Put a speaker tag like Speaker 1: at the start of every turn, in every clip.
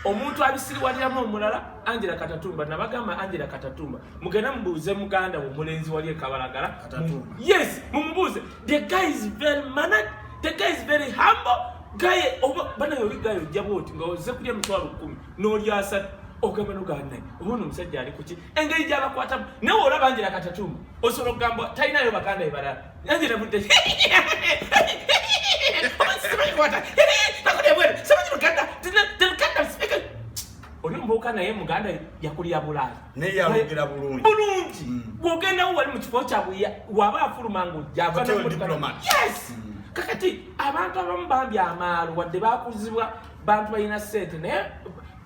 Speaker 1: omuntu abisiriwaliramu omulala angela katatumba nabagamba angela katatumba mugenda mubuuze muganda we omulenzi wali ekabalagala yes
Speaker 2: mumubuuze
Speaker 1: the guy is very manad the guy is very humble gaye oba banaye oli gaye ojja bwoti nga oze kulya emitwalo kumi nolyasatu ogamba noganaye oba ono omusajja ali kuki engeri gyabakwatamu nawe olaba angela katatumba osobola okugamba talinayo baganda ebalala Nange nabudde. Simanyi kwata. Nakudde bwere. Simanyi Luganda. Luganda sipika. Oli mbuuka naye Muganda yakulira Bulaaya. Naye yalugera
Speaker 2: bulungi. Bulungi. Mm. Bw'ogenda
Speaker 1: wo wali mu kifo kya buya waba afuluma ng'ojja. Yes. Mm. Kakati abantu abamu bambi amaalo wadde baakuzibwa bantu balina ssente naye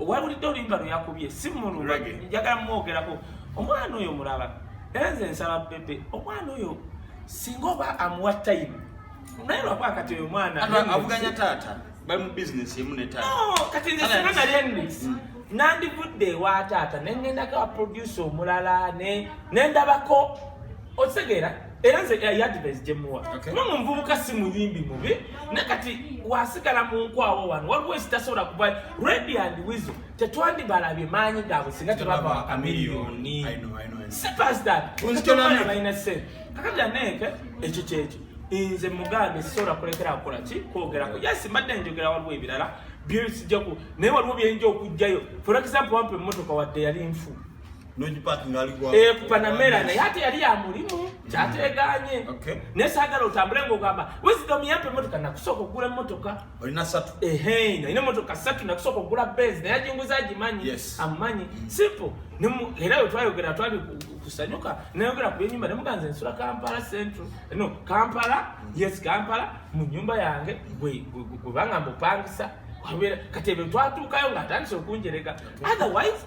Speaker 1: owabulidde oluyimba lweyakubye si mulunga njagala mumwogerako omwana oyo mulaba era nze nsaba bebe omwana oyo singa oba amuwa time naye lwakuba kati oyo omwana avuganya taata
Speaker 2: bali mu bizinesi emu ne taata kati nze singa nali
Speaker 1: enisi mm. nandivudde ewa taata nengendako aprodusa omulala nendabako okitegeera era nze yadvise gyemuwa kuba mu nvubuka si muyimbi mubi ne kati wasigala mu nkwawo wano waliwo ekitasobola kuba redi and wizo tetwandibalabye maanyi gaabwe singa tebava wakamiliyoni sipasdalina sente kakati aneeke ekyo kyekyo nze mugambe sisobola kulekera kukola ki kwogerako yasi mbadde njogera waliwo ebirala byesijjaku naye waliwo byenja okugjayo for example wampa emmotoka wadde yali nfu
Speaker 2: Eh, ku panamera naye
Speaker 1: ate yali ya mulimu mm. kyateganye naye saagala otambule ngaogamba wisdom yampa emotoka nakusooka okugula emotoka olina satu ehe
Speaker 2: nalina emotoka
Speaker 1: satu nakusooka okugula bens naye ajinguza agimanyi amumanyi mm. simple era we twayogera twali kusanyuka nayogera ku yenyumba nemuganza ensula kampala central no kampala mm. yes kampala mu nyumba yange gwebanga mbupangisa kati ebyo twatuukayo ngaatandise okunjerega otherwise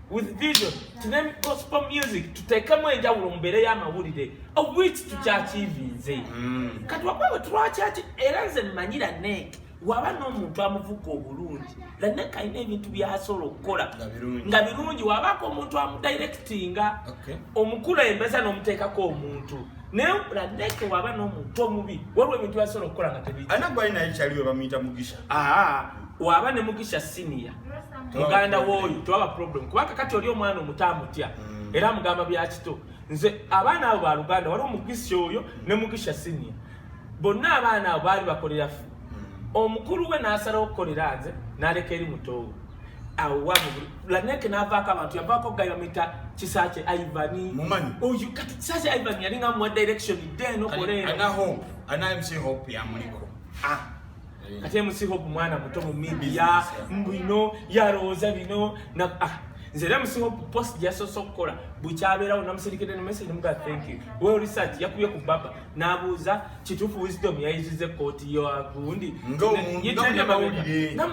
Speaker 1: with vision tunemu gospel music tuteekemu enjawulo mu mbeera y'amawulire owich tukyakiivinze mm. kati wakwebwe tulwakyaki era nze mmanyira nek waba n'omuntu amuvuga obulungi lanek alina ebintu byasobola okukola nga birungi wabaako omuntu amudirectinga omukulembeza n'omuteekako omuntu naye lanek waba n'omuntu omubi waliwo ebintu byasobola okukola nga tebianaye kyaliwe bamuyita
Speaker 2: mugisha waba
Speaker 1: ne mugisha senior muganda woyo tewaba problem kuba kakati oli omwana omuto amutya mm. era amugamba byakito nze abaana abo baluganda waliwo mugisha oyo ne mugisha senior bonna abaana abo baali bakolera mm. omukulu we nasalawo okukolera nze naleka eri mutoowe awalaneke navaako abantu yavaako gayo mita kisakye ivani oyo kati kisakye ivani yalinga muwa direction denokoleera
Speaker 2: eh.
Speaker 1: ate musihope mwana muto mu media mbino yalowooza bino ah, nze era musihope post gyasoose okukola bukyabeerawo namuserikede ne message muga thank you well research yakubye ku baba n'abuuza kituufu wisdom yayiziza ekkooti yoagundi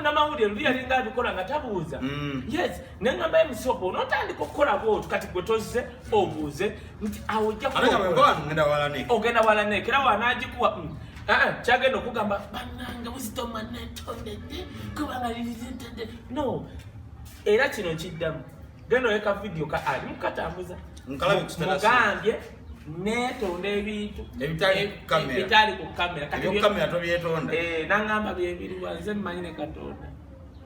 Speaker 1: namawulire luli yalinga abikola nga tabuuza mm. yes nengamba emusopo notandika okukola bwotu kati gwe tozze obuuze nti awo ojjaogenda walaneka era wanagikuwa mm. ah, ah, kyagenda okugamba bananga wizitomanetondede kubanga lizitede no era kino kiddamu genda oleka vidiyo ka ali mukatambuza mugambye netonda ebintu ebitali ku kamera kati
Speaker 2: nangamba
Speaker 1: byebiriwa nze mmanyi ne katonda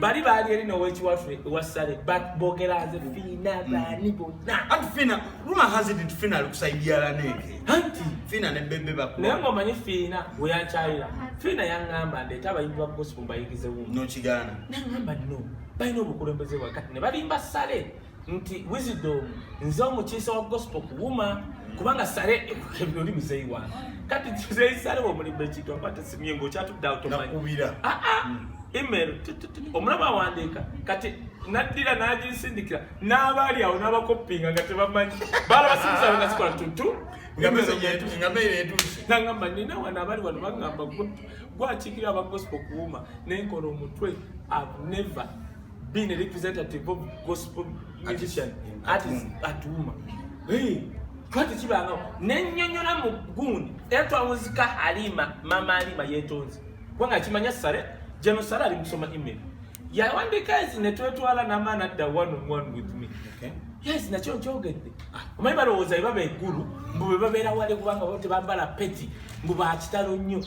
Speaker 1: bali baali eri nowekiwaffe ewassale bogera nze fiina mm. baani bonna anti fiina ruma
Speaker 2: hazi nti fiina ali kusaidiala neke anti fiina ne
Speaker 1: bebe baku
Speaker 2: naye nga omanyi fiina
Speaker 1: weyankyayira fiina yangamba ndeeta abayimbi ba gospel mbayigize wumu nokigaana nangamba
Speaker 2: no
Speaker 1: balina obukulembeze wakati ne balimba sale nti wisdom nze omukiisa wa gospel kuwuma kubanga sale ekukebira oli muzeeyi wange kati muzeeyi sale womulimba ekintu aba tesimye ngaokyatudde awtomubira ah, ah.
Speaker 2: hmm. email
Speaker 1: omulaba awandiika kati naddira nagisindikira n'abaali awo n'abakoppinga nga tebamanyi baala basinzisaabe nga zikola tutu
Speaker 2: nangamba nina wano
Speaker 1: abali wano bagamba gwakiikira aba gospel kuwuma nenkola omutwe ave never being a representative of gospel musician artist atuuma twati kibangawo nenyonyola mu gundi era twawunzika halima mama halima yetonze kubanga akimanya sale jeno sale ali musoma email yawandika ezi netwetwala nama nadda one on one with me okay. yes
Speaker 2: nakyo
Speaker 1: nkyogedde ah. omanyi balowooza bebaba eggulu mbu bebabeera wale kubanga bo tebambala peti mbu bakitalo nnyo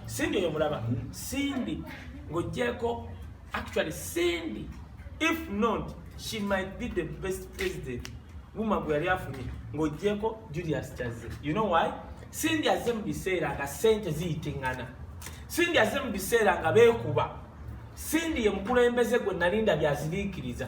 Speaker 1: sindi oyo mulaba sindi ng'ogyeko actually sindi if not she might be the best president wuma gwe yali afunye ng'ogyeko julius chaze you know why sindi azze mu biseera nga sente ziyitingana sindi azze mu biseera nga beekuba sindi ye mukulembeze gwe nalinda byaziriikiriza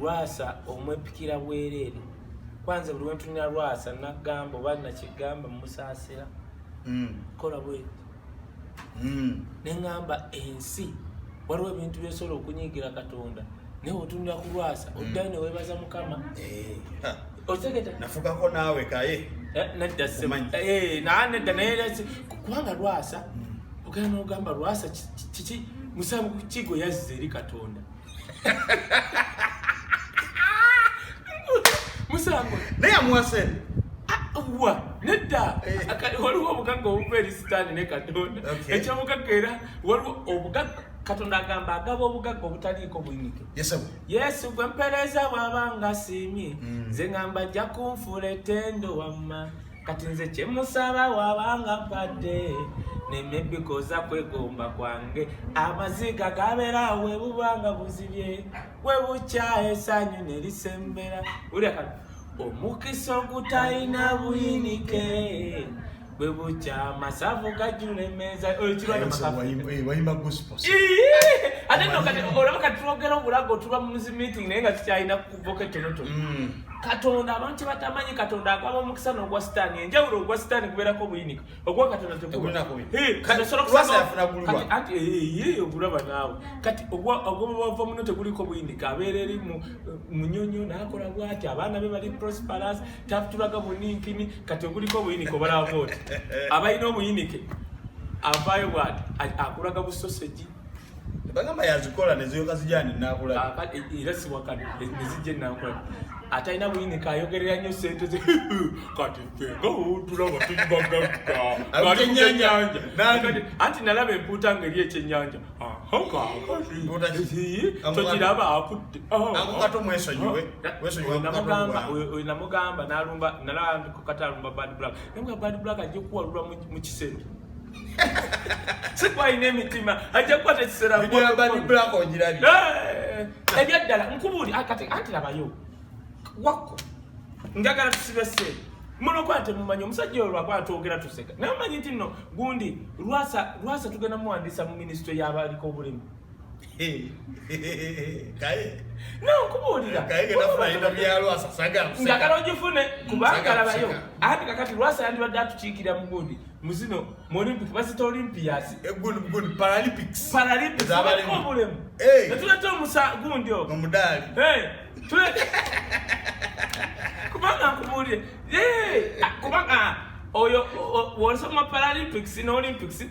Speaker 1: lwasa omwepikira bwereere kwanze buli wentunira lwasa nagamba oba nakigamba musaasira mm. kola bweti mm. neŋamba ensi waliwo ebintu byosobola okunyigira katonda naye otunira ku lwasa mm. oddayo newebaza mukama eh, otegeta nafugako
Speaker 2: naawe kaye eh, nedda eh,
Speaker 1: naa nedda naye kubanga lwasa ogenda nogamba lwasa kiki musango kigo yazze eri katonda musango naye amuwa sente
Speaker 2: ah, wa
Speaker 1: nedda eh. waliwo obugagga obuva eri sitaani ne katonda ekyobugagga era waliwo obugagga katonda agamba agaba obugagga obutaliiko buyinike yesu gwe mpereeza bwaba nga asiimye mm. nze ngamba ajja kunfuula etendo wamma kati nze kyemusaba wabanga padde nemebikoza kwegomba kwange amaziga gabera webubanga buzibye webukya esanyu nerisembera ulya kati omukisa ogutayina buyinike bwe bukya amasavu gajula emeeza oyo kirwayimba
Speaker 2: gospel ate
Speaker 1: no kati olaba kati twogera obulago tuba mu muzi meeting naye nga tukyalina kuboka ettonotono mm. katonda abantu kyebatamanyi katonda agaba omukisa n'ogwa sitaani enjawulo ogwa sitaani gubeerako obuyinika ogwa katonda tegulagulaba naawe kati ogwobava muno teguliko buyinika abeera eri munyonyo nakola bwati abaana be bali prosperous tatulaga buninkini kati oguliko obuyinika obalaba vooti abalina obuyinike avaayo bwati akulaga busosegi bagamba
Speaker 2: yazikola neziyoka zijani nakulaera siwakana
Speaker 1: nezijja nakula atalina buyini kayogerera nyo sente ze kati fengaotulaba tuibagaggaenyanja anti nalaba empuuta nga eri ekyenyanja tokiraba
Speaker 2: akutte
Speaker 1: namugamba nalumba nalaba kati alumba bad black nabwa bad black ajja kuwalulwa mu kisero sikwalina emitima ajja kukwata ekiseera
Speaker 2: ebyaddala
Speaker 1: nkubuuli anti labayo wakko njagala tusibe seeri muno kwa temumanyi omusajja olwo aba atwogera tuseka naye omanyi nti nno gundi lwasa lwasa tugenda muwandiisa mu minisitule y'abaaliko obulemu njagala
Speaker 2: ogifune
Speaker 1: kubanga labayo anti kakati lwasa yandibadde atukiikira mu gundi muzino mu olympic bazita olympias
Speaker 2: paralympicsparalympisobulemu
Speaker 1: netuleta omusa gundi ogo omudaali kubanga nkubuulire kubanga oyo wolisoma paralympics ne olympics